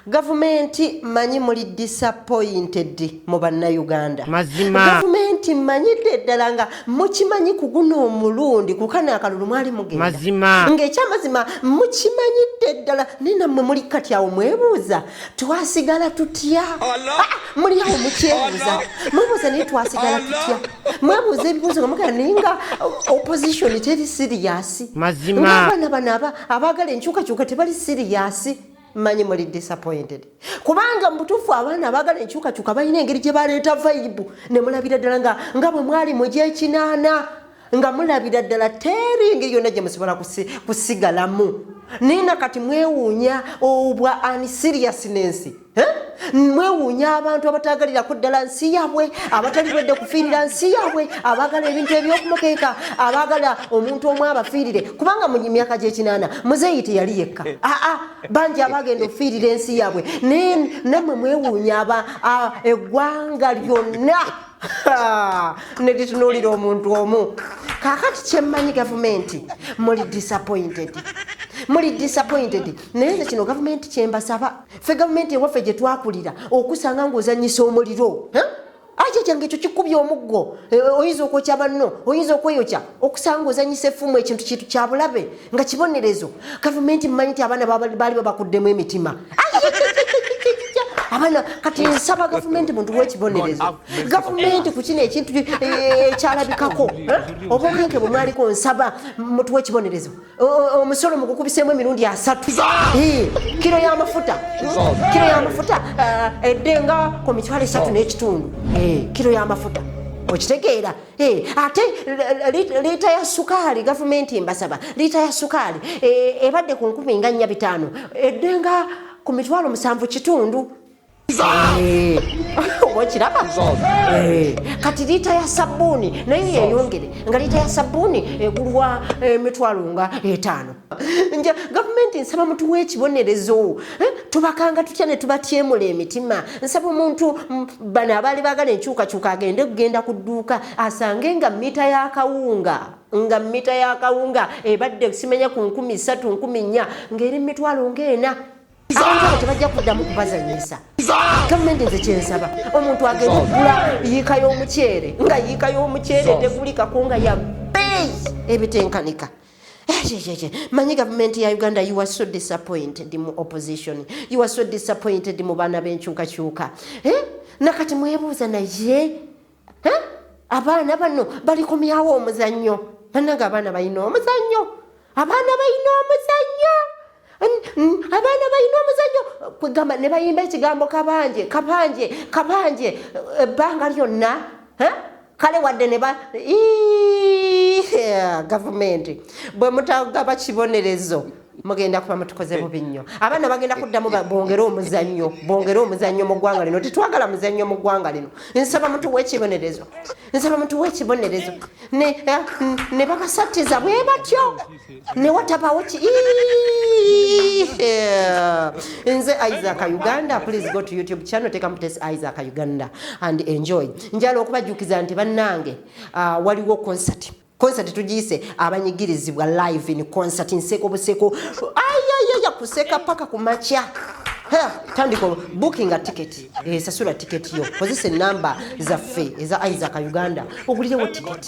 gavumenti manyi muli disappointed mu bannayuganda gavumenti manyidde ddala nga mukimanyi ku guno omulundi kukana akalulu mwali mugenda ng'ekyamazima mukimanyidde ddala naye nammwe muli kati awo mwebuuza twasigala tutya ah, muli awo mukyebuuza mwebuuza naye twasigala tutya mwebuuza ebibuuzo nga mugera naye nga opposition teri siriyasi ng'abaana bano aba abaagala enkyukakyuka tebali siriyasi manyi muli disappointed kubanga mubutuufu abaana abaagala enkyukakyuka balina engeri gye baleeta vaibu ne mulabira ddala nga nga bwe mwali mu gyekinaana nga mulabira ddala teri engeri yonna gye musobola kusigalamu naye na kati mwewuunya obwa ani siriyasi n'ensi mwewuunya abantu abataagalirako ddala nsi yaabwe abatali wedde kufiirira nsi yaabwe abaagala ebintu ebyokumukeeka abaagala omuntu omu abafiirire kubanga mu myaka gyekinaana muzeeyi teyali yekka aa eh. ah, ah, bangi abaagenda okufiirira ensi yaabwe naye nammwe mwewuunya aba eggwanga lyonna neritunuulira omuntu omu kaakati kyemmanyi gavumenti muli disappointed muli disappointed naye nze kino gavumenti kyembasaba ffe gavumenti ewaffe gye twakulira okusanga ng'ozanyisa omuliro aki kyange ekyo kikubya omuggo e, e, oyinza okwokya banno oyinza okweyokya okusanga ozanyisa effumu ekintu kintu kya bulabe nga kibonerezo gavumenti mmanyi nti abaana baali babakuddemu emitima abaana kati nsaba gavumenti muntu wekibonerezo gavumenti ku kino ekintu e, ekyalabikako obumenke bwe mwaliko nsaba mutu wekibonerezo omusolo mugukubiseemu emirundi asatu kiro yamafuta kiro yamafuta eh, edde nga ku mitwalo esatu n'ekitundu eh, kiro yamafuta okitegeera eh, ate liita ya sukaali gavumenti mbasaba liita ya sukaali ebadde ku nkumi nga nnya bitaano edde nga ku mitwalo musanvu kitundu Eh, oba okiraba eh, kati liita ya sabbuuni naye yeyongere nga liita ya sabbuuni egulwa eh, emitwalo nga etaano nja gavumenti nsaba mutuwa ekibonerezo tubakanga tutya ne tubatyemula emitima nsaba omuntu mm, bano abaali bagala enkyukakyuka agende okugenda ku dduuka asange nga mita yakawunga nga mita yakawunga ebadde simanya ku nkumi satu nkumi nnya ng'eri mitwalo ng'ena tebajja kuddamu kubazanyisa gavumenti nze kyensaba omuntu agenda okugula yiika y'omuceere nga yiika y'omuceere tegulikako nga ya beeyi ebitenkanika eh, manyi gavumenti ya uganda you are so disappointed mu opposition you are so disappointed mu baana b'enkyukakyuka eh? nakati mwebuuza naye abaana bano balikomyawo omuzannyo banange abaana balina omuzannyo abaana balina omuzannyo abaana balina omuzannyo kwegamba ne bayimba ekigambo kabanje kabanje kabanje ebbanga lyonna kale wadde ne ba gavumenti bwe mutagaba kibonerezo mugenda kuba mutukoze eh. bubi nnyo abaana bagenda kuddamu bongere omuzannyo bongere omuzannyo mu ggwanga lino tetwagala muzannyo mu ggwanga lino nsaba mutuwa ekibonerezo nsaba mutuwa ekibonerezo ne eh, babasattiza bwe batyo ne watabawo ki eh. nze isaac uganda please go to youtube channel teka mutesi isaac uganda and enjoy njala okubajjukiza nti bannange ah, waliwo concert Concert tujiyise abanyigirizibwa live in concert nseko buseko ayayaya kuseka paka kumakya tandika bookinga ticket esasula eh, ticket yo kozesa enamba zaffe eza isaac uganda ogulirewo ticket